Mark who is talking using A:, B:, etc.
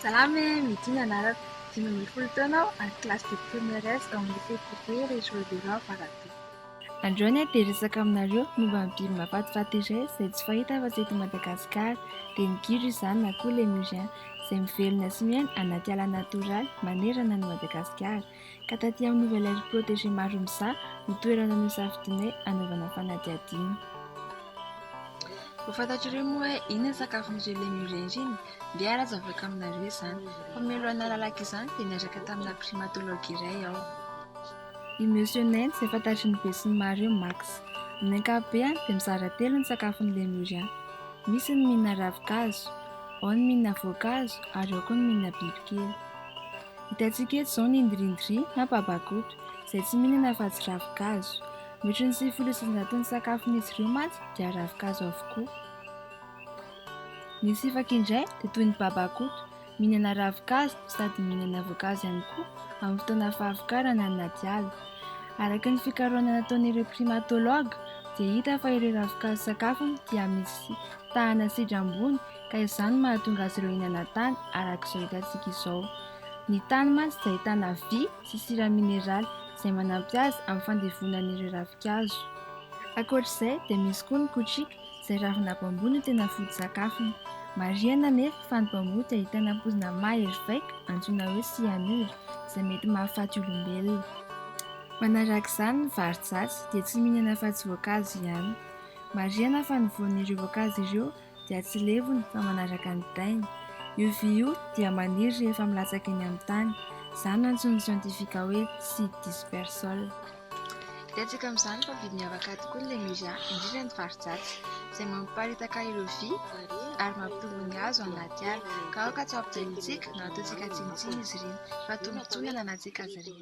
A: Salama e! Midi ny anarako, dimy ambin'ny folo taona aho ary kilasy dimy première S ao amin'ny Lycée privé Richelieu Béraud Ambarabe. Androany aho dia hiresaka aminareo momba ny biby mahafatifaty iray izay tsy fahita afa-tsy eto Madagasikara, dia ny gidro izany na koa lemurien izay mivelona sy miaina anaty ala natoraly manerana an'i Madagasikara. ka taty amin'ny Nouvelle Aire Protégée maro mizaha ny toerana nosafidinay hanaovana fanadihadiana. Ho fantatr'ireo moa hoe inona ny sakafon'ireo Lemure ireny dia ara-zavatra aminareo izany fa mialohan'ny nalalako izany dia niaraka tamina Primatologue iray aho. I Monsieur Nain izay fantatry ny be sy ny maro eo Max. Amin'ny ankapobehany dia mizara telo ny sakafon'ny Lemurian. Misy ny mihinana ravin-kazo, ao ny mihinana voankazo ary ao koa ny mihinana bibikely. Hitantsika eto izao ny ndrindri na babakoto, izay tsy mihinana afa-tsy ravin-kazo. Mihoatry ny sivifolo isanjaton'ny sakafon'izy ireo mantsy dia ravin-kazo avokoa. Ny sifaka indray dia toy ny babakoto, mihinana ravin-kazo sady mihinana voankazo ihany koa amin'ny fotoana fahavokarana anaty ala. Araka ny fikarohana nataon'ireo primatologue dia hita fa ireo ravin-kazo sakafony dia misy tahana sidra ambony, ka izany no mahatonga azy ireo hihinana tany araka izao hitantsika izao. Ny tany mantsy dia ahitana vy sy sira mineraly izay manampy azy amin'ny fandevonany ireo ravinkazo. Ankoatr'izay dia misy koa ny kotrika izay ravina bambou no tena foto-tsakafony. Marihana anefa fa ny bambou dia ahitana poizina mahery vaika antsoina hoe cyanure izay mety mahafaty olombelona. Manaraka izany ny varijatsy dia tsy mihinana afa-tsy voankazo ihany. Marihana fa ny voan'ireo voankazo ireo dia tsy levony fa manaraka ny tainy. Io vy io dia maniry rehefa milatsaka eny amin'ny tany. Izany no antsoin'ny siantifika hoe tsy dispersol. Hitantsika amin'izany fa biby miavaka tokoa ny Lemuria, indrindra ny faridratsy, izay mamparitaka ireo vy ary mampitombo ny hazo ao anaty ala. Ka aoka tsy ho ampidirintsika na ataontsika tsinontsinona izy ireny, fa tombontsoa ny ananantsika azy ireny.